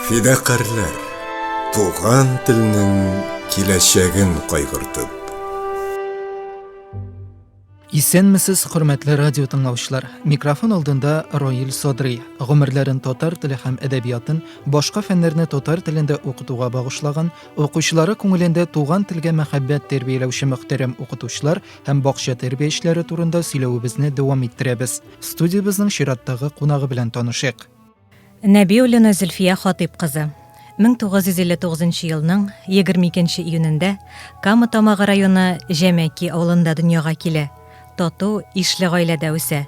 Фидакарлар, туган телнең киләчәген кайгыртып. Исәнмесез, хөрмәтле радио тыңлаучылар. Микрофон алдында Роил Содри. Гомерләрен татар теле һәм әдәбиятын, башка фәннәрне татар телендә укытуга багышлаган, укучылары күңелендә туган телгә мәхәббәт тәрбияләүче мөхтәрәм укытучылар һәм бакча тәрбиячеләре турында сөйләвебезне дәвам иттерәбез. Студиябезнең чираттагы кунагы белән танышыйк. Нәбиуллина Зөлфия Хатыйп кызы. 1959 елның 22 нче июнендә Кама Тамагы районы Җәмәки авылында дөньяга килә. Тату, ишле гаиләдә үсә.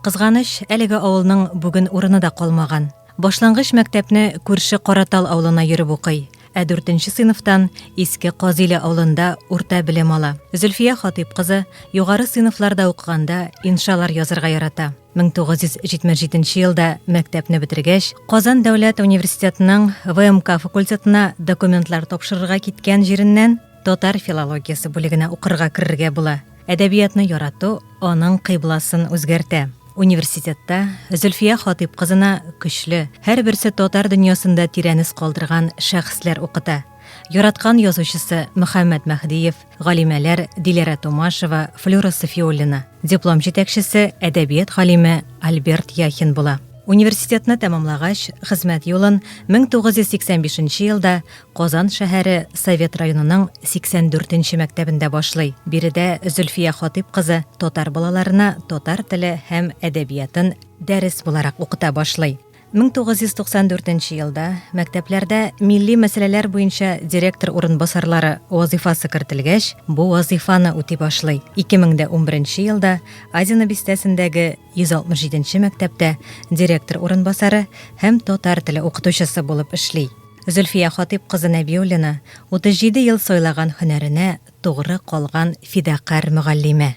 Кызганыч, әлеге авылның бүген урыны да калмаган. Башлангыч мәктәпне күрше Каратал авылына йөреп укый. Ә дүртенче сыйныфтан Иске Казиле авылында урта белем ала. Зөлфия Хатыйп кызы югары сыйныфларда укыганда иншалар язырга ярата. 1977 елда мәктәпне бетергәч, Казан дәүләт университетының ВМК факультетына документлар тапшырырга киткән җиреннән Татар филологиясе бүлегенә укырга керергә була. Әдәбиятны ярату аның кыйбласын үзгәртә. Университетта Зөлфия Хатыйп кызына көчле, һәрберсе татар дөньясында тирән эз калдырган шәхесләр укыта. Яраткан язучысы Мөхәммәд Мәһдиев, галимәләр Диләрә Томашева, Флюра Сафиуллина. Диплом җитәкчесе әдәбият галиме Альберт Яхин була. Университетны тәмамлагач, хезмәт юлын 1985 елда Казан шәһәре Совет районының 84 нче мәктәбендә башлый. Биредә Зөлфия Хатыйп кызы татар балаларына татар теле һәм әдәбиятын дәрес буларак укыта башлый. 1994 елда мәктәпләрдә милли мәсьәләләр буенча директор урынбасарлары вазыйфасы кертелгәч, бу вазыйфаны үти башлый. 2011 елда Азина бистәсендәге 167 нче мәктәптә директор урынбасары һәм татар теле укытучысы булып эшли. Зөлфия Хатыйп кызы Нәбиуллина, 37 ел сайлаган һөнәренә тугры калган фидакарь мөгаллимә.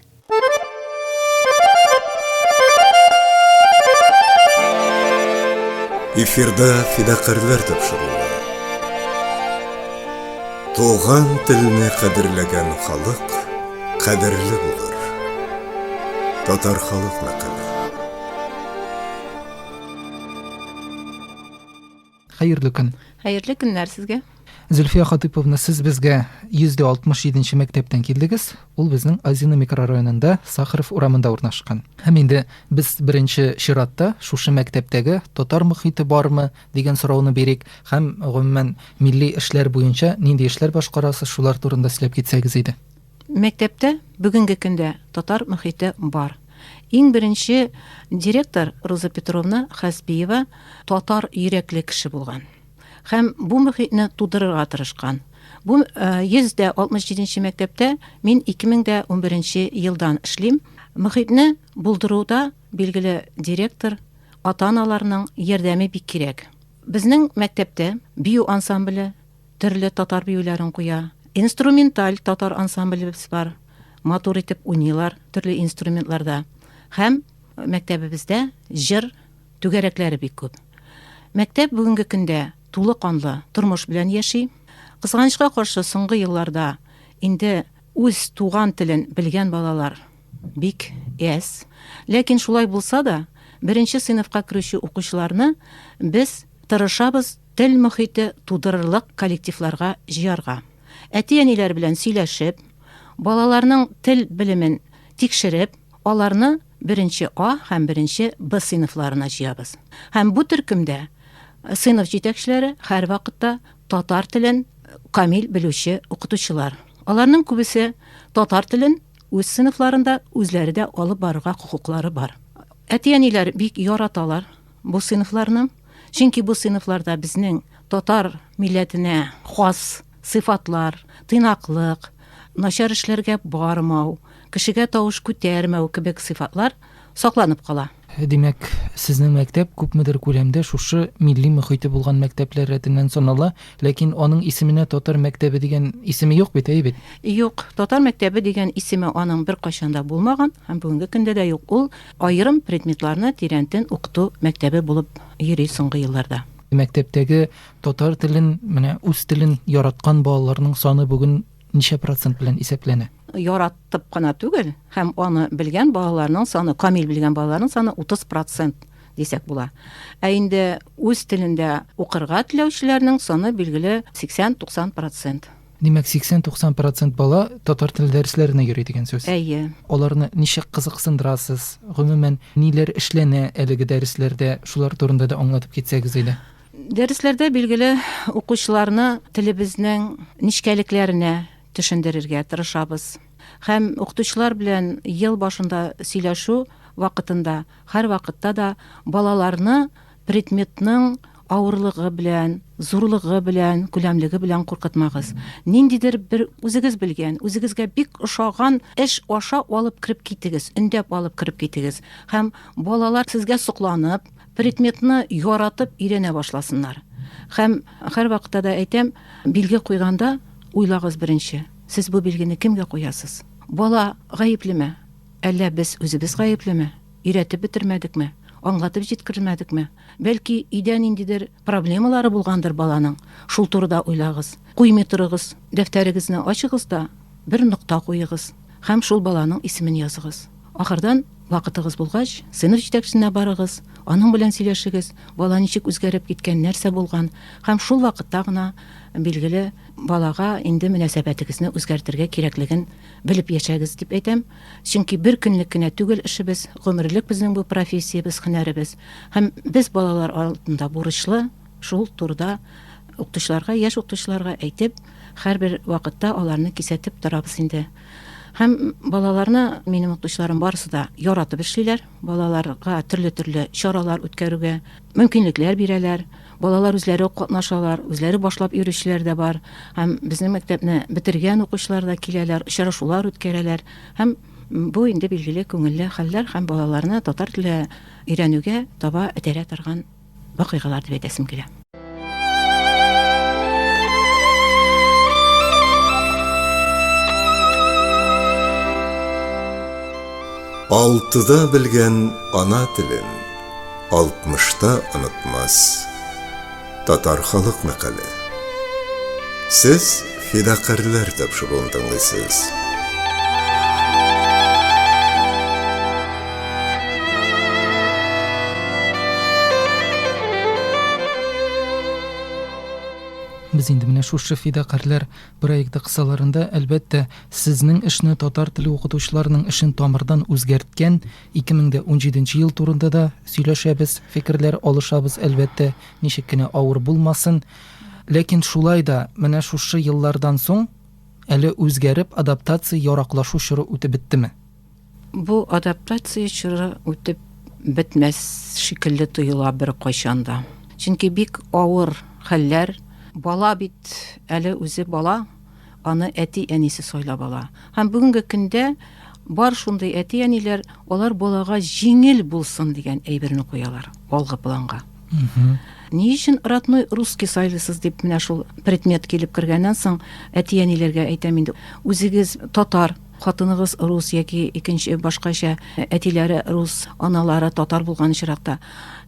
Эфирда фидакарьләр тапшыруы. Туган телне кадерләгән халык кадерле булыр. Татар халык мәкале. Хәерле көн. Хәерле көннәр сезгә. Зөлфия Хатыповна, сез безгә 167-нче мәктәптән килдегез. Ул безнең Азина микрорайонында, Сахаров урамында урнашкан. Һәм инде без беренче чиратта шушы мәктәптәге татар мөхите бармы дигән сорауны бирик һәм гомумән милли эшләр буенча нинди эшләр башкарасыз, шулар турында сөйләп китсәгез иде. Мәктәптә бүгенге көндә татар мөхите бар. Иң беренче директор Роза Петровна Хәсбиева татар йөрәкле кеше булган һәм бу мөхитне тудырырга тырышкан. Бу 167 нче мәктәптә мин 2011 нче елдан эшлим. Мөхитне булдыруда, билгеле, директор, ата-аналарның ярдәме бик кирәк. Безнең мәктәптә бию ансамбле, Төрле татар биюләрен куя. Инструменталь татар ансамблебез бар. Матур итеп уйныйлар төрле инструментларда. Һәм мәктәбебездә җыр түгәрәкләре бик күп. Мәктәп бүгенге көндә тулы канлы тормыш белән яши. Кызганычка каршы, соңгы елларда инде үз туган телен белгән балалар бик әз. Ләкин шулай булса да, беренче сыйныфка керүче укучыларны без тырышабыз Тел мохите тудырырлык коллективларга җыярга. Әти-әниләр белән сөйләшеп, балаларның тел белемен тикшереп, аларны беренче А һәм беренче Б сыйныфларына җыябыз. Һәм бу төркемдә сыйныф җитәкчеләре һәрвакытта татар телен камил белүче укытучылар. Аларның күбесе татар телен үз сыйныфларында үзләре дә алып барырга хокуклары бар. Әти-әниләр бик яраталар бу сыйныфларны. Чөнки бу сыйныфларда безнең татар милләтенә хас сыйфатлар, тыйнаклык, начар эшләргә бармау, кешегә тавыш күтәрмәү кебек сыйфатлар сакланып кала. Димәк, сезнең мәктәп күпмедер күләмдә шушы милли мөхите булган мәктәпләр рәтеннән санала, ләкин аның исеменә татар мәктәбе дигән исеме юк бит, әйе бит? Юк, татар мәктәбе дигән исеме аның беркайчан да булмаган һәм бүгенге көндә дә юк. Ул Аерым предметларны тирәнтен укыту мәктәбе булып йөри соңгы елларда. Мәктәптәге татар телен, менә үз телен яраткан балаларның саны бүген ничә процент белән исәпләнә? Яратып кына түгел, һәм аны белгән балаларның саны, камил белгән балаларның саны 30 процент дисәк була. Ә инде үз телендә укырга теләүчеләрнең саны билгеле 80-90 процент. Димәк, 80-90 процент бала татар теле дәресләренә йөри дигән сүз. Әйе. Аларны ничек кызыксындырасыз? Гомумән, ниләр эшләнә әлеге дәресләрдә? Шулар турында да аңлатып китсәгез иде. Дәресләрдә билгеле укучыларны телебезнең нечкәлекләренә төшендерергә тырышабыз. Һәм укытучылар белән ел башында сөйләшү вакытында һәрвакытта да балаларны Предметның авырлыгы белән, зурлыгы белән, күләмлеге белән куркытмагыз. Ниндидер бер үзегез белгән, үзегезгә бик ошаган эш аша алып кереп китегез, өндәп алып кереп китегез. Һәм балалар сезгә сокланып, предметны яратып өйрәнә башласыннар. Һәм һәр вакытта да әйтәм, билге куйганда уйлагыз беренче, сез бу билгене кемгә куясыз? Бала гаеплеме? Әллә без үзебез гаеплеме? Өйрәтеп бетермәдекме, аңлатып җиткермәдекме? Бәлки, өйдә ниндидер проблемалары булгандыр баланың? Шул турыда уйлагыз. Куймый торыгыз, дәфтәрегезне ачыгыз да, бер нокта куегыз һәм шул баланың исемен языгыз. Ахырдан, вакытыгыз булгач, сыйныф җитәкчесенә барыгыз, аның белән сөйләшегез, бала ничек үзгәреп киткән, нәрсә булган, һәм шул вакытта гына, билгеле, балага инде мөнәсәбәтегезне үзгәртергә кирәклеген белеп яшәгез, дип әйтәм. Чөнки бер көнлек кенә түгел эшебез, гомерлек безнең бу профессиябез, һөнәребез. Һәм без балалар алдында бурычлы шул турыда укытучыларга, яшь укытучыларга әйтеп, һәрбер вакытта аларны кисәтеп торабыз инде. Һәм балаларны, минем укытучыларым барысы да яратып эшлиләр, балаларга төрле-төрле чаралар үткәрүгә мөмкинлекләр бирәләр. Балалар үзләре үк катнашалар, үзләре башлап йөрүчеләр дә бар. Һәм безнең мәктәпне бетергән укучылар да киләләр, очрашулар үткәрәләр. Һәм бу инде билгеле күңелле хәлләр һәм балаларны татар теле өйрәнүгә таба этәрә торган вакыйгалар дип әйтәсем килә. Алтыда белгән ана телен. алтмышта онытмас. Татар халык мәкале. Сез фидакарьләр тапшыруын тыңлыйсыз. Без инде менә шушы фидакарьләр проекты кысаларында, әлбәттә, сезнең эшне татар теле укытучыларының эшен тамырдан үзгәрткән 2017 ел турында да сөйләшәбез, фикерләр алышабыз, әлбәттә, ничек кенә авыр булмасын. Ләкин шулай да менә шушы еллардан соң әле үзгәреп адаптация яраклашу чоры үтеп беттеме? Бу адаптация чоры үтеп бетмәс шикелле тоела бер кайчанда. Чөнки бик авыр хәлләр, бала бит әле үзе бала, аны әти-әнисе сайлап ала. Һәм бүгенге көндә бар шундый әти-әниләр алар балага җиңел булсын дигән әйберне куялар алгы планга. Ни өчен родной русский сайлыйсыз дип менә шул предмет килеп кергәннән соң әти-әниләргә әйтәм инде. Үзегез татар, хатыныгыз рус яки икенче башкача әтиләре рус, аналары татар булган очракта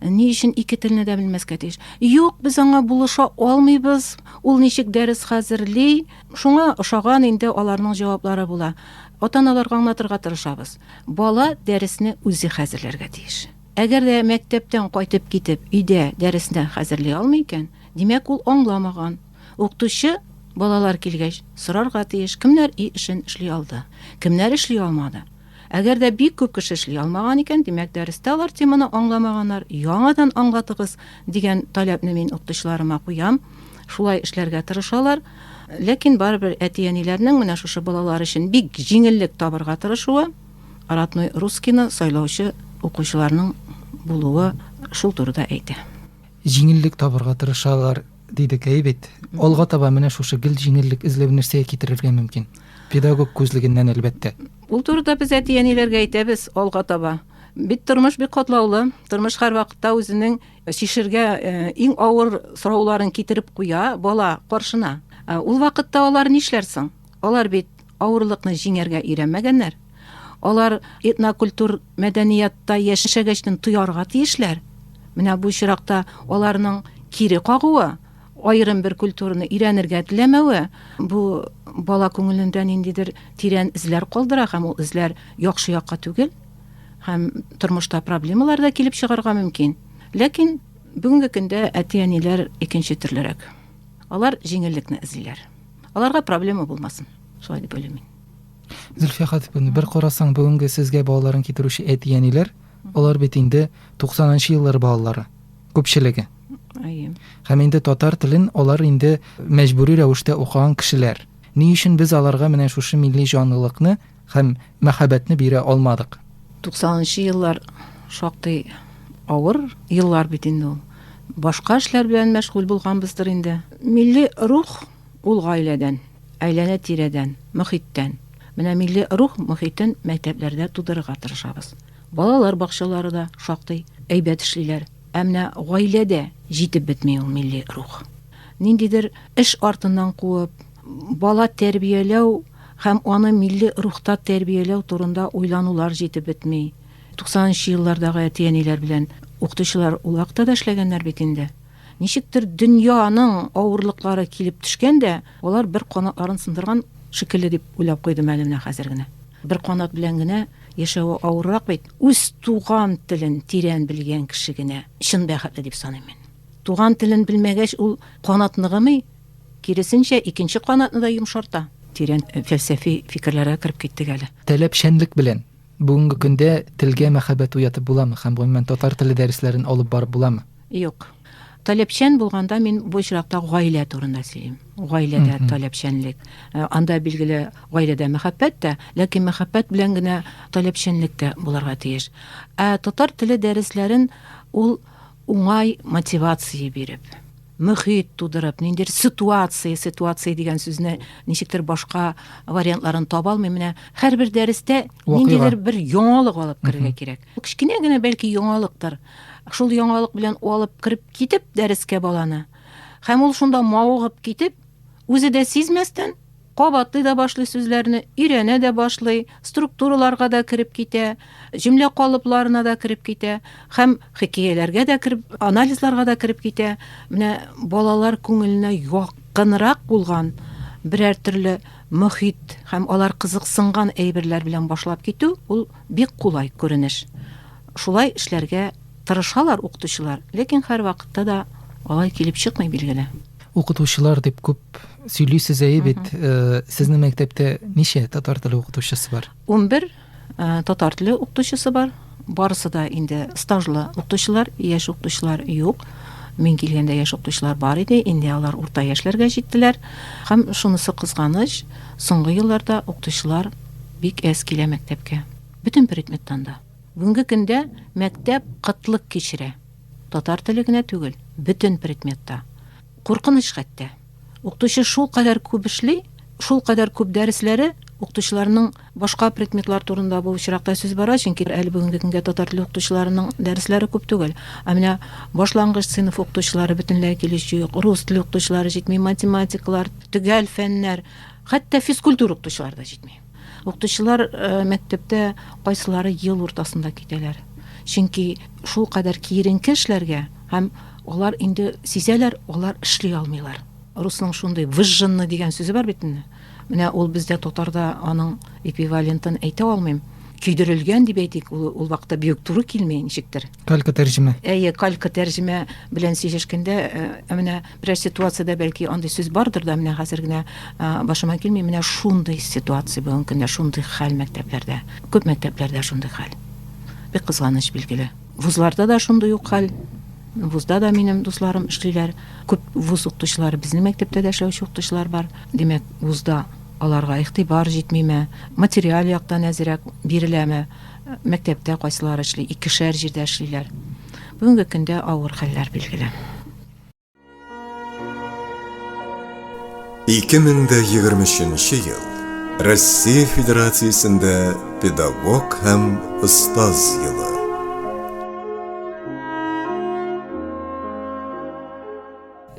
ни өчен ике телне дә белмәскә тиеш? Юк, без аңа булыша алмыйбыз. Ул ничек дәрес хәзерли, шуңа ошаган инде аларның җаваплары була. Ата-аналарга аңлатырга тырышабыз. Бала дәресне үзе хәзерләргә тиеш. Әгәр дә мәктәптән кайтып китеп, өйдә дәресне хәзерли алмый икән, димәк, ул аңламаган. Укытучы, балалар килгәч, сорарга тиеш, кемнәр өй эшен эшли алды, кемнәр эшли алмады. Әгәр дә бик күп кеше эшли алмаган икән, димәк, дәрестә алар теманы аңламаганнар, яңадан аңлатыгыз, дигән таләпне мин укытучыларыма куям. Шулай эшләргә тырышалар. Ләкин барыбер әти-әниләрнең менә шушы балалар өчен бик җиңеллек табырга тырышуы, родной русскийны сайлаучы укучыларның булуы шул турыда әйтә. Җиңеллек табырга тырышалар, Диде Гейвит. Алга таба менә шушы гел җиңеллек эзләү нәрсәгә китерергә мөмкин? Педагог күзлегеннән, әлбәттә. Ул турыда без әти-әниләргә әйтәбез алга таба. Бит тормыш бик катлаулы. Тормыш һәр вакытта үзенең чишергә иң авыр сорауларын китереп куя бала каршына. Ул вакытта алар нишләрсең? Алар бит авырлыкны җиңәргә өйрәнмәгәннәр. Алар этнокультур мәдәниятта яшәгәчтен тоярга тиешләр. Менә бу очракта аларның кире кагуы, аерым бер культураны өйрәнергә теләмәве бу бала күңелендә ниндидер тирән эзләр калдыра һәм ул эзләр яхшы якка түгел һәм тормышта проблемалар да килеп чыгарга мөмкин. Ләкин бүгенге көндә әти-әниләр икенче төрлерәк. Алар җиңеллекне эзлиләр. Аларга проблема булмасын. Шулай дип уйлыйм мин. Зөлфия Хатиповна, бер карасаң, бүгенге сезгә балаларын китерүче әти-әниләр, алар бит инде 90-нчы еллар балалары, күпчелеге. Әйе. Һәм инде татар телен алар инде мәҗбүри рәвештә укыган кешеләр. Ни өчен без аларга менә шушы милли җанлылыкны һәм мәхәббәтне бирә алмадык? 90-нчы еллар шактый авыр еллар бит инде ул. Башка эшләр белән мәшгуль булганбыздыр инде. Милли рух ул гаиләдән. Әйләнә-тирәдән, мохиттән. Менә милли рух мохитен мәктәпләрдә тудырырга тырышабыз. Балалар бакчалары да шактый әйбәт эшлиләр. Ә менә гаиләдә җитеп бетми ул милли рух. Ниндидер эш артыннан куып, бала тәрбияләү һәм аны милли рухта тәрбияләү турында уйланулар җитеп бетми. 90 нчы еллардагы әти-әниләр белән укытучылар ул вакытта да эшләгәннәр бит инде. Ничектер дөньяның авырлыклары килеп төшкән дә, алар бер канатларын сындырган шикелле дип уйлап куйдым әле менә хәзер генә. Бер канат белән генә яшәве авыррак бит. Үз туган телен тирән белгән кеше генә чын бәхетле дип саныйм мин. Туган телен белмәгәч, ул канат ныгымый, киресенчә, икенче канатны да йомшарта. Тирән фәлсәфи фикерләргә кереп киттек әле. Таләпчәнлек белән. Бүгенге көндә телгә мәхәббәт уятып буламы һәм, гомумән, татар теле дәресләрен алып барып буламы? Юк. Таләпчән булганда мин бу очракта гаилә турында сөйлим. Гаиләдә таләпчәнлек. Анда, билгеле, гаиләдә мәхәббәт тә, ләкин мәхәббәт белән генә таләпчәнлек тә булырга тиеш. Ә татар теле дәресләрен ул уңай мотивация биреп мөхит тудырып ниндидер ситуация ситуация дигән сүзне ничектер башка вариантларын таба алмыйм менә һәрбер дәрестә ниндидер бер яңалык алып керергә кирәк кечкенә генә бәлки яңалыктыр шул яңалык белән алып кереп китеп дәрескә баланы һәм ул шунда мавыгып китеп үзе дә сизмәстән Кабатлый да башлый сүзләрне, өйрәнә дә башлый, структураларга да кереп китә, җөмлә калыпларына да кереп китә һәм хикәяләргә дә кереп, анализларга да кереп китә. Менә балалар күңеленә якынрак булган берәр төрле мөхит һәм алар кызыксынган әйберләр белән башлап китү ул бик кулай күренеш. Шулай эшләргә тырышалар укытучылар, ләкин һәрвакытта да алай килеп чыкмый, билгеле. Укытучылар дип күп сөйлисез әйе бит. Э, сезнең мәктәптә ничә татар теле укытучысы бар? 11 э, татар теле укытучысы бар. Барысы да инде стажлы укытучылар, яшь укытучылар юк. Мин килгәндә яшь укытучылар бар иде, инде алар урта яшьләргә җиттеләр. Һәм шунысы кызганыч, соңгы елларда укытучылар бик әз килә мәктәпкә. Бөтен предметтан да. Бүгенге көндә мәктәп кытлык кичерә. Татар теле генә түгел, бөтен предметта. Куркыныч хәтта. Укытучы шул кадәр күп эшли, шул кадәр күп дәресләре, укытучыларның башка предметлар турында бу очракта сүз бара, чөнки әле бүгенге көнгә татар теле укытучыларының дәресләре күп түгел. Ә менә башлангыч сыйныф укытучылары бөтенләй килеш юк, рус теле укытучылары җитми, математиклар, төгәл фәннәр, хәтта физкультура укытучылары да җитми. Укытучылар мәктәптә кайсылары ел уртасында китәләр. Чөнки шул кадәр киеренке эшләргә һәм алар инде сизәләр, алар эшли алмыйлар. Русның шундый выжженный дигән сүзе бар бит инде. Менә ул бездә татарда аның эквивалентын әйтә алмыйм. Көйдерелгән дип әйтик, ул, ул вакытта бик туры килми ничектер. Калька тәрҗемә. Әйе, калька тәрҗемә белән сөйләшкәндә, ә менә Берәр ситуациядә бәлки андый сүз бардыр да, менә хәзер генә башыма килми, менә шундый ситуация бүгенге көндә, шундый хәл мәктәпләрдә. Күп мәктәпләрдә шундый хәл. Бик кызганыч билгеле. Вузларда да шундый ук хәл. Вузда да минем дусларым эшлиләр. Күп вуз укытучылары безнең мәктәптә дә эшләүче укытучылар бар. Димәк, вузда аларга игътибар җитмиме, материаль яктан әзерәк биреләме, мәктәптә кайсылар эшли, икешәр җирдә эшлиләр. Бүгенге көндә авыр хәлләр билгеле. 2023 ел Россия Федерациясендә педагог һәм остаз елы.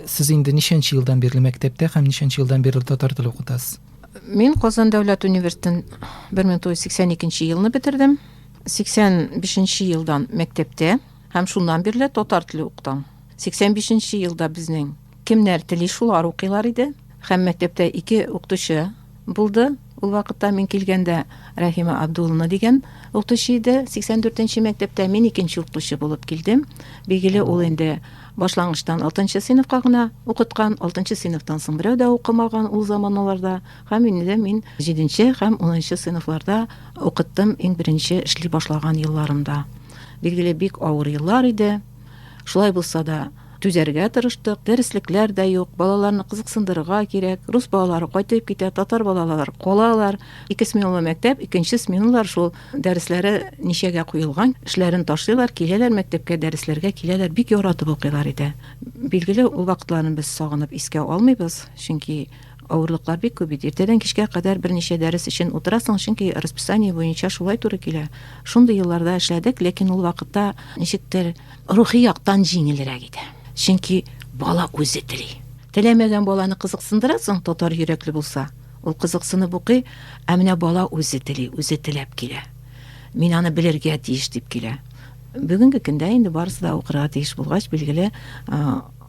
Сез инде ничәнче елдан бирле мәктәптә һәм ничәнче елдан бирле татар теле укытасыз? Мин Казан дәүләт университетын 1982 елны бетердем. 85 елдан мәктәптә Һәм шуннан бирле татар теле укытам. 85 нче елда безнең кемнәр тели шулар укыйлар иде. Һәм мәктәптә ике укытучы булды. Ул вакытта мин килгәндә Рәхимә Абдуллина дигән укытучы иде. 84 нче мәктәптә мин икенче укытучы булып килдем. Билгеле, ул инде башлангычтан 6 нчы сыйныфка гына укыткан, 6 нчы сыйныфтан соң берәү дә укымаган ул заманаларда. Һәм инде дә мин җиденче һәм унынчы сыйныфларда укыттым иң беренче эшли башлаган елларымда. Билгеле, бик авыр еллар иде. Шулай булса да, түзәргә тырыштык. Дәреслекләр дә юк, балаларны кызыксындырырга кирәк. Рус балалары кайтып китә, татар балалары калалар. Ике сменалы мәктәп, икенче сменалар шул дәресләре ничәгә куелган, эшләрен ташлыйлар, киләләр мәктәпкә, дәресләргә киләләр, бик яратып укыйлар иде. Билгеле, ул вакытларны без сагынып искә алмыйбыз, чөнки Авырлыклар бик күп бит. Иртәдән кичкә кадәр берничә дәрес өчен утырасың, чөнки расписание буенча шулай туры килә. Шундый елларда эшләдек, ләкин ул вакытта ничектер рухи яктан җиңелрәк иде. Чөнки бала үзе тели. Теләмәгән баланы кызыксындырасың, татар йөрәкле булса, ул кызыксынып укый, ә менә бала үзе тели, үзе теләп килә. Мин аны белергә тиеш дип килә. Бүгенге көндә инде барысы да укырга тиеш булгач, билгеле,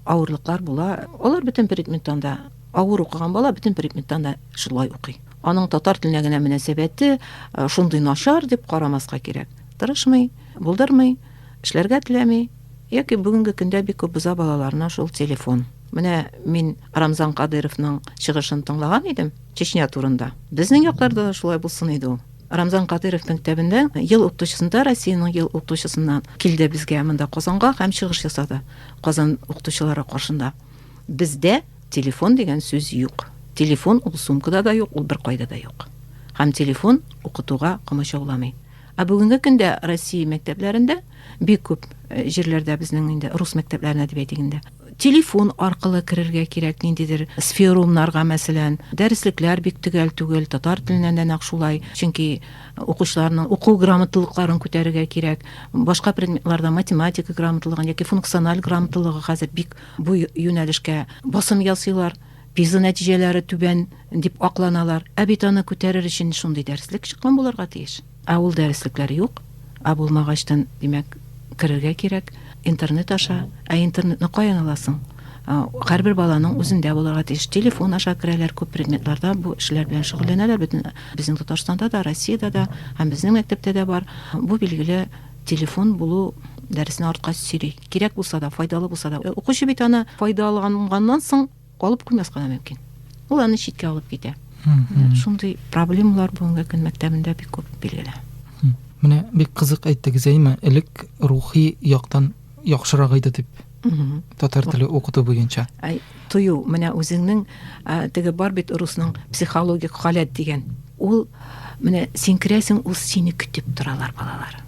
Авырлыклар була. Алар бөтен предметтан да авыр укыган бала бөтен предметтан да шулай укый. Аның татар теленә генә мөнәсәбәте э, шундый начар дип карамаска кирәк. Тырышмый, булдырмый, эшләргә теләми, яки бүгенге көндә бик күп боза балаларына шул телефон. Менә мин Рамзан Кадыровның чыгышын тыңлаган идем Чечня турында. Безнең якларда да шулай булсын иде ул. Рамзан Кадыйровның китабында ел укытучысында, Россиянең ел укытучысына килде безгә монда Казанга һәм чыгыш ясады. Казан укытучылары каршында. Бездә телефон дигән сүз юк. Телефон ул сумкада да юк, ул беркайда да юк. Һәм телефон укытуга комачауламый. Ә бүгенге көндә Россия мәктәпләрендә бик күп э, җирләрдә безнең инде рус мәктәпләренә дип әйтик инде телефон аркылы керергә кирәк ниндидер сферумнарга мәсәлән дәреслекләр бик төгәл түгел татар теленнән дә нәкъ шулай чөнки э, укучыларның уку грамоталыкларын күтәрергә кирәк башка предметларда математика грамоталыгын яки функциональ грамоталыгы хәзер бик бу юнәлешкә басым ясыйлар пиза нәтиҗәләре түбән дип акланалар ә бит аны күтәрер өчен шундый дәреслек чыккан булырга тиеш Ә ул дәреслекләр юк, ә булмагачтын, димәк, керергә кирәк, интернет аша. Ә интернетны каян аласың? Һәрбер баланың үзендә булырга тиеш. Телефон аша керәләр күп предметларда, бу эшләр белән шөгыльләнәләр, бөтен безнең Татарстанда да, Россиядә дә һәм безнең мәктәптә дә бар. Бу билгеле телефон булу дәресне артка сөйри. Кирәк булса да, файдалы булса да. Укучы бит аны файдаланганнан соң, Алып куймаска да мөмкин. Ул аны читкә алып китә. Шундый проблемалар бүгенге көн мәктәбендә бик күп билгеле. Менә бик кызык әйттегез, әйме, элек рухи яктан яхшырак иде дип. Татар теле укыту буенча. Ай, тою, менә үзеңнең теге бар бит русның психологик халәт дигән. Ул менә син керәсең, ул сине көтеп торалар балалар.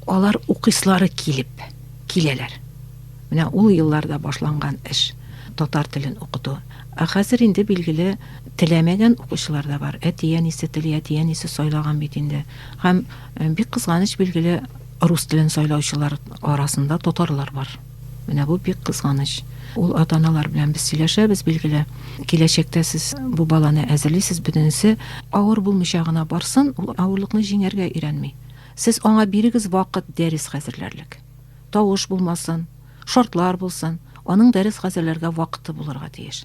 Алар укыйслары килеп киләләр. Менә ул елларда башланган эш, татар телен укыту. Ә хәзер инде, билгеле, теләмәгән укучылар да бар. Әти-әнисе тели, әти-әнисе сайлаган бит инде. Һәм, бик кызганыч, билгеле, рус телен сайлаучылар арасында татарлар бар. Менә бу бик кызганыч. Ул ата-аналар белән без сөйләшәбез, билгеле. Киләчәктә сез бу баланы әзерлисез, бөтенесе авыр булмыйча гына барсын, ул авырлыкны җиңәргә өйрәнми. Сез аңа бирегез вакыт дәрес хәзерләрлек. Тавыш булмасын, шартлар булсын, аның дәрес хәзерләргә вакыты булырга тиеш.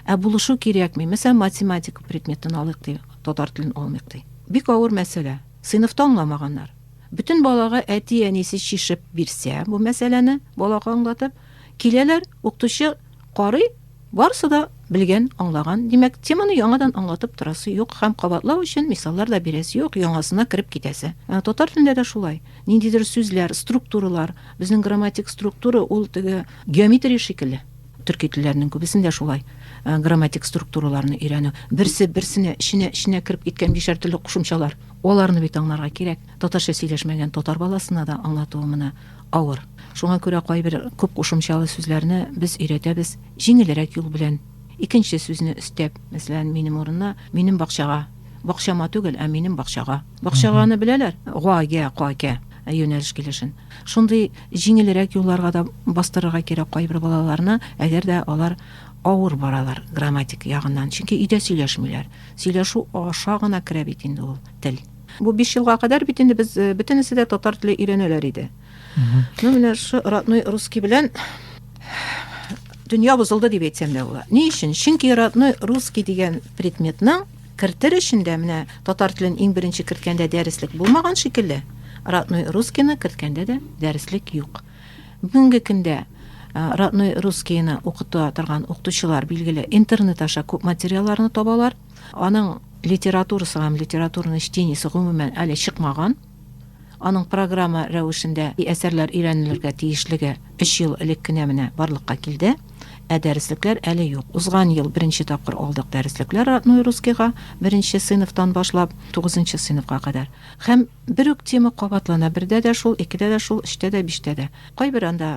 Ә булышу кирәкми. Мәсәлән, математика предметын алыйк ди, татар телен алмыйк ди. Бик авыр мәсьәлә. Сыйныфта аңламаганнар. Бөтен балага әти-әнисе чишеп бирсә бу мәсьәләне, балага аңлатып, киләләр, укытучы карый, Барысы да белгән, аңлаган, димәк, теманы яңадан аңлатып торасы юк һәм кабатлау өчен мисаллар да бирәсе юк, яңасына кереп китәсе. Ә татар телендә дә шулай. Ниндидер сүзләр, структуралар, безнең грамматик структура ул теге геометрия шикелле. Төрки телләрнең күбесендә шулай э, грамматик структураларны өйрәнү. Берсе берсенә, эченә, эченә кереп киткән бишәр төрле кушымчалар. Аларны бит аңларга кирәк. Татарча сөйләшмәгән татар баласына да аңлатуы менә авыр. Шуңа күрә кайбер күп кушымчалы сүзләрне без өйрәтәбез җиңелрәк юл белән. Икенче сүзне өстәп, мәсәлән, минем урынына минем бакчага, бакчама түгел, ә минем бакчага. Бакчаганы беләләр? Га, гә, ка, кә. Ә юнәлеш килешен. Шундый җиңелрәк юлларга да бастырырга кирәк кайбер балаларны, әгәр дә алар авыр баралар грамматик ягыннан. Чөнки өйдә сөйләшмиләр. Сөйләшү аша гына керә бит инде ул тел. Бу биш елга кадәр бит инде без э, бөтенесе дә татар теле өйрәнәләр иде. Ну менә шушы родной русский белән дөнья бозылды дип әйтсәм дә була. Ни өчен? Чөнки родной русский дигән предметның кертер өчен дә менә татар телен иң беренче керткәндә дәреслек булмаган шикелле, родной русскийны керткәндә дә дәреслек юк. Бүгенге көндә Э, родной русскийны укыта торган укытучылар билгеле интернет аша күп материалларны табалар Аның литературасы һәм литературный чтениесе гомумән әле чыкмаган. Аның программа рәвешендә әсәрләр өйрәнелергә тиешлеге өч ел элек кенә менә барлыкка килде, ә дәреслекләр әле юк. Узган ел беренче тапкыр алдык дәреслекләр родной русскийга, беренче сыйныфтан башлап тугызынчы сыйныфка кадәр. Һәм бер үк тема кабатлана, бердә дә шул, икедә дә шул, өчтә дә, биштә дә. Кайбер анда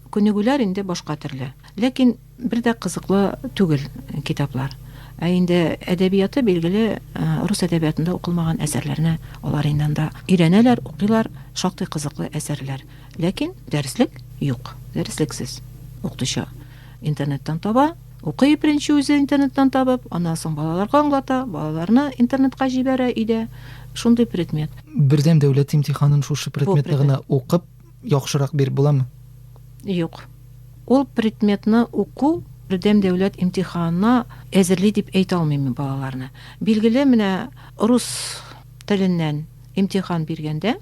күнегүләр инде башка төрле. Ләкин. Бер дә кызыклы түгел китаплар. Ә инде әдәбияты, билгеле, рус әдәбиятында укылмаган әсәрләрне алар инде анда өйрәнәләр, укыйлар, шактый кызыклы әсәрләр. Ләкин дәреслек юк, дәреслексез. Укытучы интернеттан таба, укый беренче үзе интернеттан табып, аннан соң балаларга аңлата, балаларны интернетка җибәрә өйдә. Шундый предмет. Бердәм дәүләт имтиханын шушы предметны гына укып, яхшырак биреп буламы? Юк. Ул предметны уку бердәм дәүләт имтиханына әзерли дип әйтә алмыйм мин балаларны. Билгеле, менә рус теленнән имтихан биргәндә,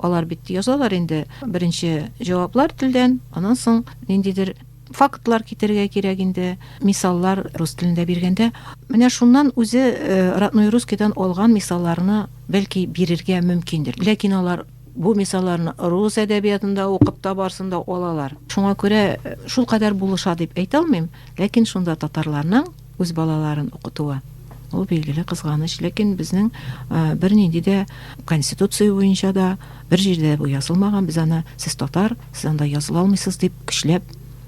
алар бит язалар инде беренче җаваплар телдән, аннан соң ниндидер фактлар китерергә кирәк инде, мисаллар рус телендә биргәндә, менә шуннан үзе э, родной русскийдан алган мисалларны бәлки бирергә мөмкиндер. Ләкин алар Бу мисалларны рус әдәбиятында укып табарсын да алалар. Шуңа күрә шул кадәр булыша дип әйтә алмыйм, ләкин шунда татарларның үз балаларын укытуы ул билгеле кызганыч, ләкин безнең бернинди дә конституция буенча да бер җирдә бу язылмаган, без аны сез татар, сез анда языла алмыйсыз дип көчләп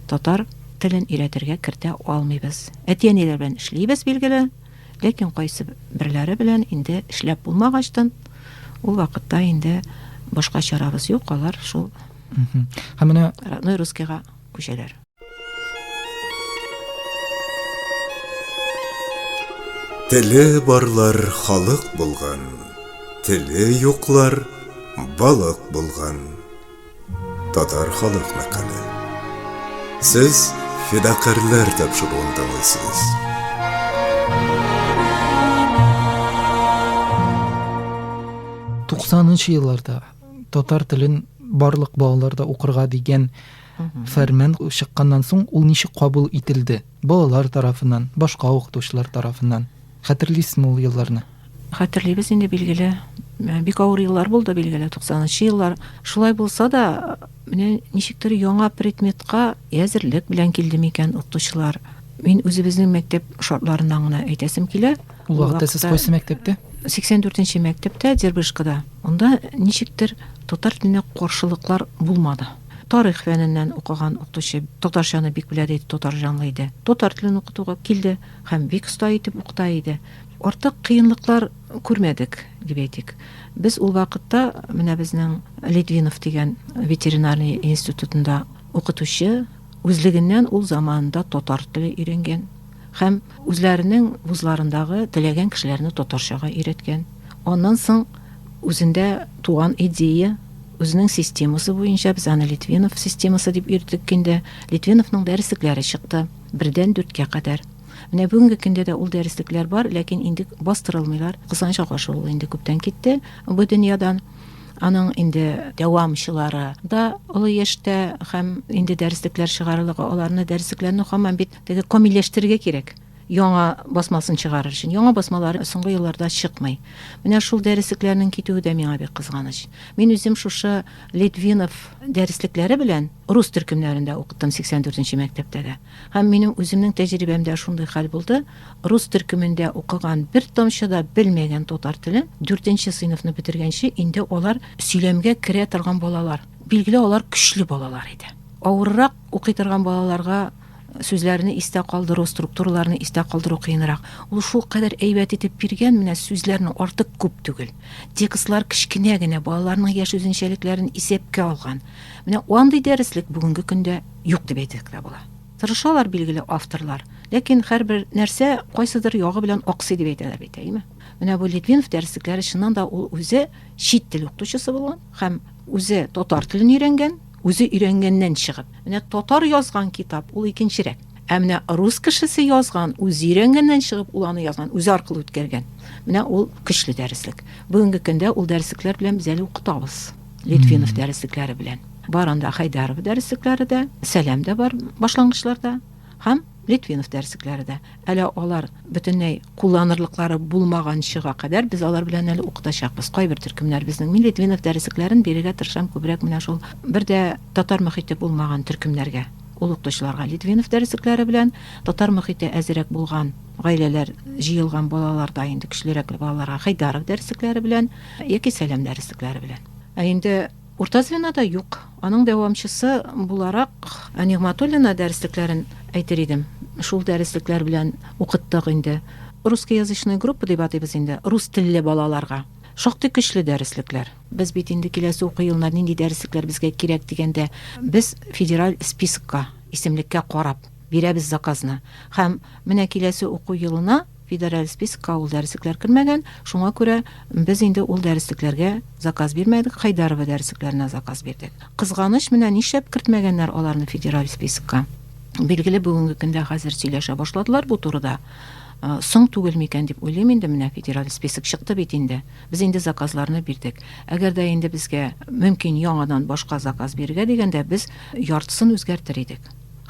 татар телен өйрәтергә кертә алмыйбыз. Әти-әниләр белән эшлибез билгеле. Ләкин кайсы берләре белән инде эшләп булмагачтын, ул вакытта инде башка чарабыз юк, алар шул Һәм менә родной русскийга күчәләр. Теле барлар халык булган, теле юклар балык булган. Татар халык мәкале. Сез фидакарлар тапшыруын тыңлыйсыз. Туксанынчы елларда татар телен барлык балаларда укырга дигән фәрман чыкканнан соң ул ничек кабул ителде? Балалар тарафыннан, башка укытучылар тарафыннан. Хәтерлисезме ул елларны? Хәтерлибез инде, билгеле. Бик авыр еллар булды, билгеле, 90-нчы еллар. Шулай булса да, менә ничектер яңа предметка әзерлек белән килде микән укытучылар. Мин үзебезнең мәктәп шартларыннан гына әйтәсем килә. Ул вакытта сез кайсы мәктәптә? 84-нче мәктәптә Дербышкада. Анда ничектер татар теленә каршылыклар булмады. Тарих фәненнән укыган укытучы татарчаны бик белә дә тотар җанлы иде. Татар телен укытуга килде һәм бик оста итеп укыта иде. Артык кыенлыклар күрмәдек, дип әйтик. Без ул вакытта менә безнең Литвинов дигән ветеринарный институтында укытучы, үзлегеннән ул заманында татар теле өйрәнгән һәм үзләренең вузларындагы теләгән кешеләрне татарчага өйрәткән. Аннан соң Үзендә туган идея, үзенең системасы буенча без аны Литвинов системасы дип йөрдек инде. Литвиновның дәреслекләре чыкты. Бердән дүрткә кадәр. Менә бүгенге көндә дә ул дәреслекләр бар, ләкин инде бастырылмыйлар. Кызганчак аша ул инде күптән китте бу дөньядан. Аның инде дәвамчылары да олы яшьтә һәм инде дәреслекләр чыгарылыгы аларны дәреслекләрне хаман бит теге камилләштерергә кирәк. яңа басмасын чыгарыр өчен. Яңа басмалары соңгы елларда чыкмый. Менә шул дәреслекләрнең китүе дә миңа бик кызганыч. Мин үзем шушы Литвинов дәреслекләре белән рус төркемнәрендә укыттым 84 нче мәктәптә дә. Һәм минем үземнең тәҗрибәмдә шундый хәл булды, рус төркемендә укыган бер тамчы да белмәгән татар телен 4 нче сыйныфны бетергәнче инде алар сөйләмгә керә торган балалар. Билгеле, алар көчле балалар иде. Авыррак укый торган балаларга Сүзләрне истә калдыру, структураларны истә калдыру кыенрак. Ул шул кадәр әйбәт итеп биргән, менә сүзләрнең артык күп түгел. Текстлар кечкенә генә, балаларның яшь үзенчәлекләрен исәпкә алган. Менә андый дәреслек бүгенге көндә юк дип әйтсәк тә була. Тырышалар, билгеле, авторлар, ләкин һәрбер нәрсә кайсыдыр ягы белән аксый дип әйтәләр бит, әйеме? Менә бу Литвинов дәреслекләре чыннан да ул үзе чит тел укытучысы булган һәм үзе татар телен өйрәнгән, Үзе өйрәнгәннән чыгып. Менә татар язган китап, ул икенчерәк. Ә менә рус кешесе язган, үзе өйрәнгәннән чыгып, ул аны язган, үзе аркылы үткәргән. Менә ул көчле дәреслек. Бүгенге көндә ул дәреслекләр белән без әле укытабыз. Литвинов дәреслекләре белән. Бар анда Хайдаров дәреслекләре дә, Сәлам да бар башлангычларда. Һәм Литвинов дәреслекләре дә. Әле алар бөтенләй кулланырлыклары булмаганчыга кадәр без алар белән әле укытачакбыз. Кайбер төркемнәр безнең. Мин Литвинов дәреслекләрен бирергә тырышам күбрәк менә шул бер дә татар мөхите булмаган төркемнәргә. Ул укытучыларга Литвинов дәреслекләре белән татар мөхите әзерәк булган гаиләләр җыелган балаларда инде көчлерәк балаларга Хәйдаров дәреслекләре белән яки Сәлам дәреслекләре белән. Ә инде Урта звено да юк. Аның дәвамчысы буларак Ә Нигъматуллина дәреслекләрен әйтер идем. Шул дәреслекләр белән укыттык инде. Русскоязычный группа дип атыйбыз инде, рус телле балаларга. Шактый көчле дәреслекләр. Без бит инде киләсе уку елына нинди дәреслекләр безгә кирәк дигәндә, без федераль спискка, исемлеккә карап, бирәбез заказны. Һәм менә киләсе уку елына, Федераль спискка ул дәреслекләр кермәгән, шуңа күрә без инде ул дәреслекләргә заказ бирмәдек, Хайдарова дәреслекләренә заказ бирдек. Кызганыч, менә нишләп кертмәгәннәр аларны федераль спискка? Билгеле, бүгенге көндә хәзер сөйләшә башладылар бу турыда. Соң түгел микән дип уйлыйм инде, менә федераль список чыкты бит инде. Без инде заказларны бирдек. Әгәр дә инде безгә мөмкин яңадан башка заказ бирергә дигәндә, без яртысын үзгәртер идек.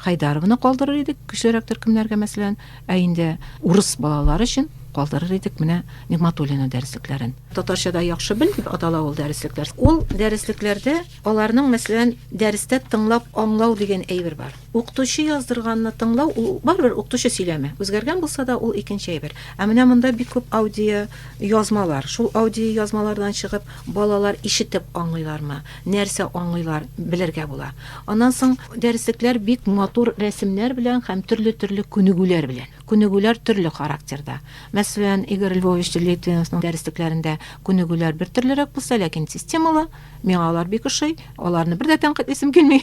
Хайдаровны калдырыр идек, көчлерәк төркемнәргә, мәсәлән, ә инде урыс балалары өчен калдырыр идек менә Нигматуллина дәреслекләрен. Татарчада яхшы бел дип атала ул дәреслекләр. Ул дәреслекләрдә аларның, мәсәлән, дәрестә тыңлап аңлау дигән әйбер бар. Укытучы яздырганны тыңлау, ул барыбер укытучы сөйләме. Үзгәргән булса да, ул икенче әйбер. Ә менә монда бик күп аудио язмалар. Шул аудио язмалардан чыгып, балалар ишетеп аңлыйлармы? нәрсә аңлыйлар, белергә була. Аннан соң дәреслекләр бик матур рәсемнәр белән һәм төрле-төрле күнегүләр белән. Күнегүләр төрле характерда. Мәсәлән, Игорь Львович Литвиновның дәреслекләрендә күнегүләр бер төрлерәк булса, ләкин системалы, миңа алар бик ошый, аларны бер дә тәнкыйтьлисем килми.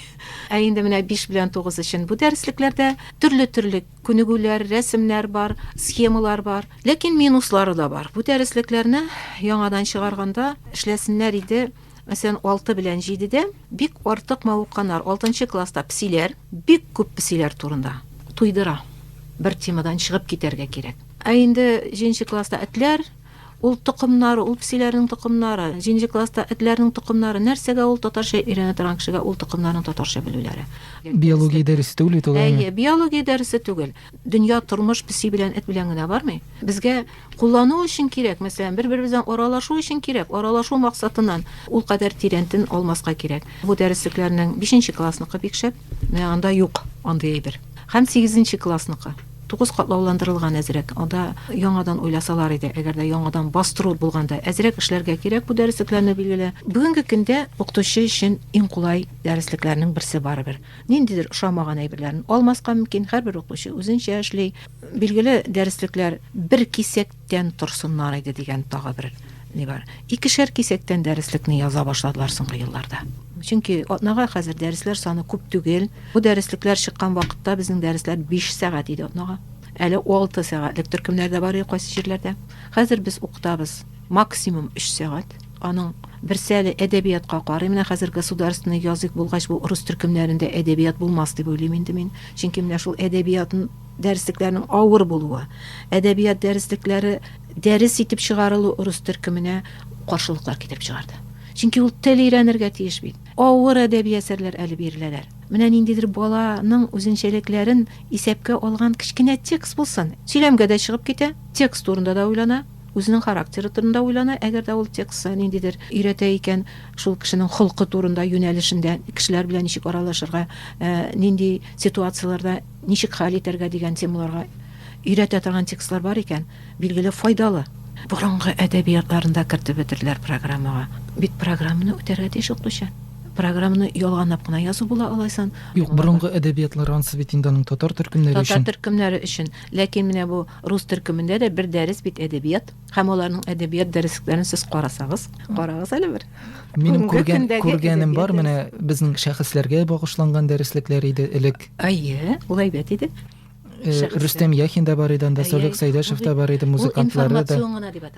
Ә инде менә 5 белән 9 өчен бу дәреслекләрдә төрле-төрле күнегүләр, рәсемнәр бар, схемалар бар, ләкин минуслары да бар. Бу дәреслекләрне яңадан чыгарганда эшләсеннәр иде, Мәсәлән, алты белән җидедә бик артык мавыкканнар, алтынчы класста псиләр, бик күп псиләр турында. Туйдыра. Бер темадан чыгып китәргә кирәк. Ә инде җиденче класста этләр, ул токымнары, ул псиләрнең токымнары, җиденче класста этләрнең токымнары, нәрсәгә ул татарча өйрәнә торган кешегә ул токымнарның татарча белүләре. Биология дәресе түгел бит ул, әйе. Әйе, биология дәресе түгел. Дөнья тормыш песи белән эт белән генә бармый. Безгә куллану өчен кирәк, мәсәлән, бер-беребез белән аралашу өчен кирәк, аралашу максатыннан ул кадәр тирәнтен алмаска кирәк. Бу дәреслекләрнең бишенче классныкы бик шәп, менә анда юк андый әйбер. Һәм сигезенче классныкы. Тугыз катлауландырылган әзрәк, анда яңадан уйласалар иде, әгәр дә яңадан бастыру булганда. Әзрәк эшләргә кирәк бу дәреслекләрне, билгеле. Бүгенге көндә укытучы өчен иң кулай дәреслекләрнең берсе барыбер. ниндидер ошамаган әйберләрен алмаска мөмкин, һәрбер укучы үзенчә эшли. Билгеле, дәреслекләр бер кисәктән торсыннар иде дигән тагы бер ни бар. Икешәр кисәктән дәреслекне яза башладылар соңгы елларда. Чөнки атнага хәзер дәресләр саны күп түгел. Бу дәреслекләр чыккан вакытта безнең дәресләр 5 сәгать иде атнага. Әле 6 сәгатьлек төркемнәр дә бар иде кайсы җирләрдә. Хәзер без укытабыз максимум 3 сәгать. Аның берсе әле әдәбиятка карый. Менә хәзер государственный язык булгач, бу урыс төркемнәрендә әдәбият булмас дип уйлыйм инде мин. Чөнки менә шул әдәбият дәреслекләренең авыр булуы, әдәбият дәреслекләре дәрес итеп чыгарылу урыс төркеменә каршылыклар китереп чыгарды. Чөнки ул тел өйрәнергә тиеш бит. Авыр әдәби әсәрләр әле биреләләр. Менә ниндидер баланың үзенчәлекләрен исәпкә алган кечкенә текст булсын. Сөйләмгә дә чыгып китә, текст турында да уйлана. Үзенең характеры турында уйлана, әгәр дә ул текстта ниндидер өйрәтә икән, шул кешенең холкы турында, юнәлешендә, кешеләр белән ничек аралашырга, ә, нинди ситуацияләрдә ничек хәл итәргә дигән темаларга өйрәтә торган текстлар бар икән, билгеле, файдалы. Борынгы әдәбиятларында кертеп бетерделәр программага. Бит программаны үтәргә тиеш укытучы. Программаны ялганлап кына язу була алайсан. Юк, борынгы әдәбиятлар ансы бит инде аның татар төркемнәре өчен. Татар төркемнәре өчен. Ләкин менә бу Рус төркемендә дә бер дәрес бит әдәбият һәм аларның әдәбият дәреслекләрен сез карасагыз, карагыз әле бер. Минем күргән күргәнем бар менә безнең шәхесләргә багышланган дәреслекләр иде элек. Әйе, ул әйбәт иде. Э, Рөстәм Яхин да бар иде анда, Солек Сәйдәшев та бар иде, музыкантлары да.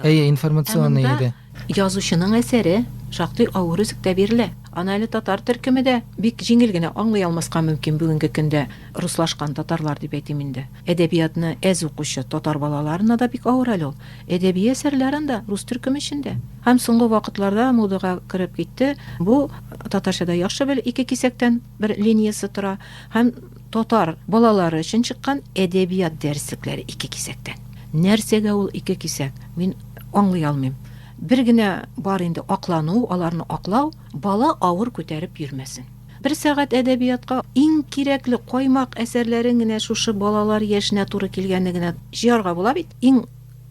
Әйе, информационный иде. Язучының әсәре шактый авыр өзектә бирелә. Аны әле татар төркеме дә бик җиңел генә аңлый алмаска мөмкин бүгенге көндә руслашкан татарлар дип әйтим инде. Әдәбиятны әз укучы татар балаларына да бик авыр әле ул. Әдәби әсәрләр анда рус төркеме эчендә. Һәм соңгы вакытларда модага кереп китте бу Татарча да яхшы бел ике кисәктән. бер линиясе тора һәм татар балалары өчен чыккан әдәбият дәреслекләре ике кисәктән. Нәрсәгә ул ике кисәк? Мин аңлый алмыйм. Бер генә бар инде аклану, аларны аклау, бала авыр күтәреп йөрмәсен. Бер сәгать әдәбиятка иң кирәкле каймак әсәрләрен генә шушы балалар яшенә туры килгәнне генә җыярга була бит. Иң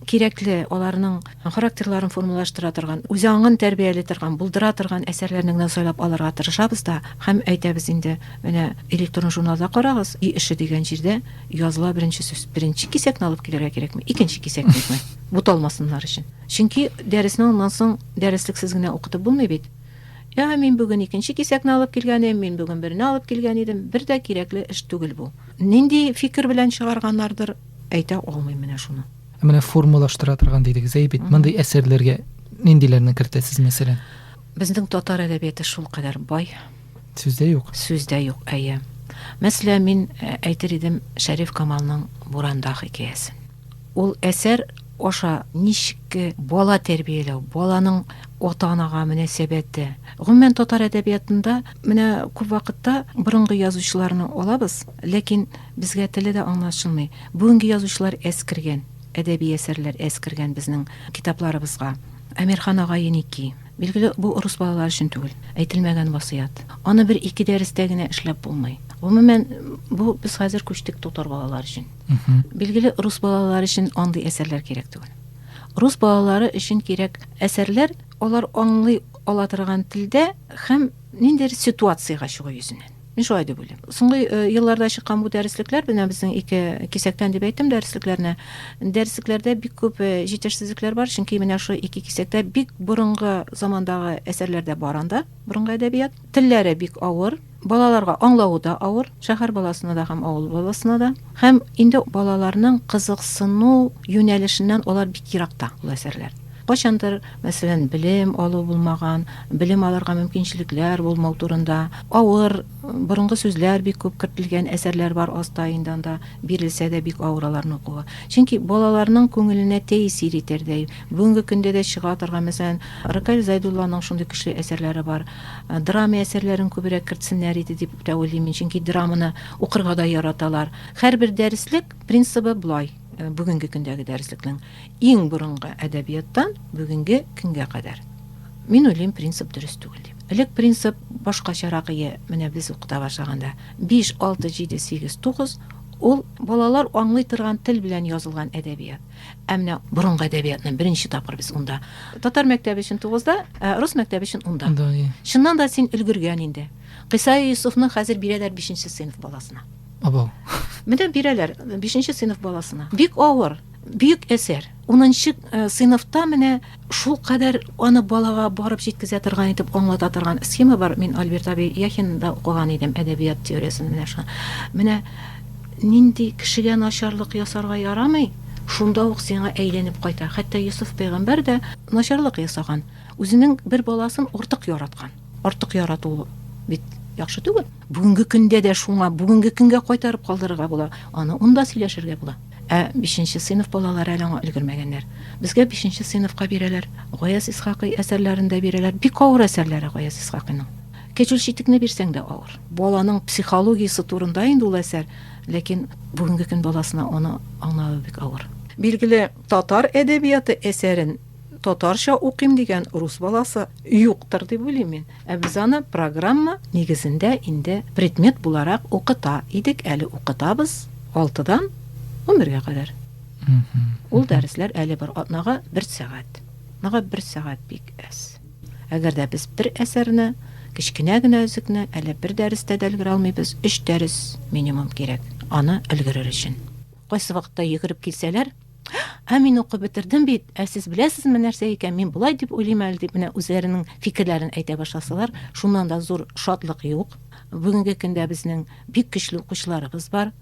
кирәкле, аларның характерларын формалаштыра торган, үз аңын тәрбияли торган, булдыра торган әсәрләрне генә сайлап алырга тырышабыз да һәм әйтәбез инде, менә электрон журналда карагыз, өй эше дигән җирдә языла беренче сүз. Беренче кисәкне алып килергә кирәкме? Икенче кисәкне буталмасыннар өчен. Чөнки дәресне аннан соң дәреслексез генә укытып булмый бит. Я, мин бүген икенче кисәкне алып килгән идем, мин бүген берне алып килгән идем, бер дә кирәкле эш түгел бу. Нинди фикер белән чыгарганнардыр, Әйтә алмыйм менә шуны. Ә менә формалаштыра торган дидегез, әй бит, мондый әсәрләргә ниндиләрне кертәсез, мәсәлән? Безнең татар әдәбияты шул кадәр бай. Сүздә юк. Сүздә юк, әйе. Мәсәлә, мин э, әйтер идем Шәриф Камалның Буранда хикәясен. Ул әсәр аша ничек э, бала тәрбияләү, баланың ата-анага мөнәсәбәте. Гомумән татар әдәбиятында менә күп вакытта борынгы язучыларны алабыз, ләкин Безгә теле дә аңлашылмый. Бүгенге язучылар әз кергән, әдәби әсәрләр әз кергән безнең китапларыбызга. Әмирхан ага еники. Билгеле, бу урыс балалары өчен түгел, әйтелмәгән васыять. Аны бер-ике дәрестә генә эшләп булмый. Гомумән, бу без хәзер күчтек татар балалары өчен. Билгеле, рус балалары өчен андый әсәрләр кирәк түгел. Рус балалары өчен кирәк әсәрләр, алар аңлый ала торган телдә һәм ниндидер ситуациягә чыгу йөзеннән. Мин шулай дип уйлыйм. Соңгы э, елларда чыккан бу дәреслекләр, менә безнең ике кисәктән дип әйттем дәреслекләрне. Дәреслекләрдә бик күп э, җитешсезлекләр бар, чөнки менә шул ике кисәктә бик борынгы замандагы әсәрләр дә бар анда, борынгы әдәбият. Телләре бик авыр, балаларга аңлавы да авыр, шәһәр баласына да һәм авыл баласына да. Һәм инде балаларның кызыксыну юнәлешеннән алар бик еракта ул әсәрләр. Кайчандыр мәсәлән, белем алу булмаган, белем алырга мөмкинчелекләр булмау турында, авыр, борынгы сүзләр бик күп кертелгән әсәрләр бар аста инде анда, бирелсә дә бик авыр аларны укуга. Чөнки балаларның күңеленә тәэсир итәрдәй, бүгенге көндә дә чыга торган, мәсәлән, Рыкаил Зайдулланың шундый көчле әсәрләре бар. Драма әсәрләрен күбрәк кертсеннәр иде дип тә уйлыйм мин, чөнки драманы укырга да яраталар. Һәрбер дәреслек принцибы болай. Э, бүгенге көндәге дәреслекнең иң борынгы әдәбияттан бүгенге көнгә кадәр мин уйлыйм принцип дөрес түгел дип элек принцип башкачарак ие менә без укыта башлаганда биш алты җиде сигез тугыз ул балалар аңлый торган тел белән язылган әдәбият ә менә борынгы әдәбиятны беренче тапкыр без унда татар мәктәбе өчен тугызда ә рус мәктәбе өчен унда чыннан да син өлгергән инде кыйса юсуфны хәзер бирәләр бишенче сыйныф баласына Абау. Менә бирәләр бишенче сыйныф баласына. Бик авыр, бөек әсәр. Унынчы э, сыйныфта менә шул кадәр аны балага барып җиткезә торган итеп аңлата торган схема бар. Мин Альберт Аби Яхинда укыган идем әдәбият теориясен менә шуны. Менә нинди кешегә начарлык ясарга ярамый, шунда ук сиңа әйләнеп кайта. Хәтта Йосыф пәйгамбәр дә начарлык ясаган. Үзенең бер баласын артык яраткан. Артык ярату бит яхшы түгел. Бүгенге көндә дә шуңа, бүгенге көнгә кайтарып калдырырга була. Аны унда сөйләшергә була. Ә бишенче сыйныф балалары әле аңа өлгермәгәннәр. Безгә бишенче сыйныфка бирәләр. Гаяз Исхакый әсәрләрен дә бирәләр. Бик авыр әсәрләре Гаяз Исхакыйның. Кәҗүл читекне бирсәң дә авыр. Баланың психологиясе турында инде ул әсәр, ләкин бүгенге көн баласына аны аңлавы бик авыр. Билгеле, татар әдәбияты әсәрен татарча укыйм дигән рус баласы юктыр дип уйлыйм мин. Ә без аны программа нигезендә инде предмет буларак укыта идек, әле укытабыз, алтыдан унбергә кадәр. Ул дәресләр әле бар, атнага бер сәгать. Атнага бер сәгать бик әз. Әгәр дә без бер әсәрне, кечкенә генә өзекне әле бер дәрестә дә өлгерә алмыйбыз, өч дәрес минимум кирәк, аны өлгерер өчен. Кайсы вакытта йөгереп килсәләр, Ә мин укып бетердем бит, ә сез беләсезме нәрсә икән, мин болай дип уйлыйм әле дип менә үзләренең фикерләрен әйтә башласалар, шуннан да зур шатлык юк. Бүгенге көндә безнең бик көчле укучыларыбыз бар.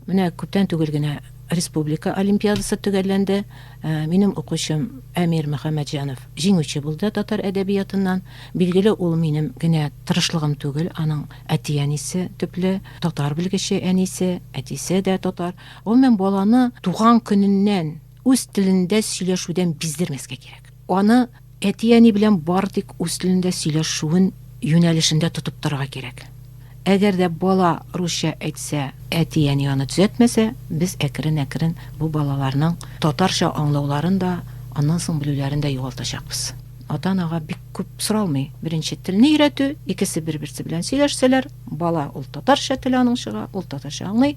Менә күптән түгел генә республика олимпиадасы төгәлләнде. Ә, минем укучым Әмир Мөхәммәтҗанов җиңүче булды татар әдәбиятыннан. Билгеле, ул минем генә тырышлыгым түгел, аның әти-әнисе төпле татар белгече, әнисе, әтисе дә татар. Гомумән, баланы туган көненнән үз телендә сөйләшүдән биздермәскә кирәк. Аны әти-әни белән бары тик үз телендә сөйләшүен юнәлешендә тотып торырга кирәк. Әгәр дә бала русча әйтсә, әти-әни аны төзәтмәсә, без әкрен-әкрен бу балаларның татарча аңлауларын да, аннан соң белүләрен дә югалтачакбыз. Ата-анага бик күп соралмый. Беренче телне өйрәтү, икесе бер-берсе белән сөйләшсәләр, бала ул татарча теле аның чыга, ул татарча аңлый.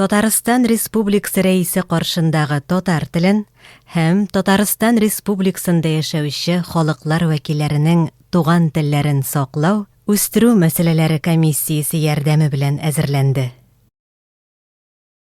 Татарстан Республикасы Рәисе каршындагы татар телен һәм Татарстан Республикасында яшәүче халыклар вәкилләренең туган телләрен саклау, үстерү мәсьәләләре комиссиясе ярдәме белән әзерләнде.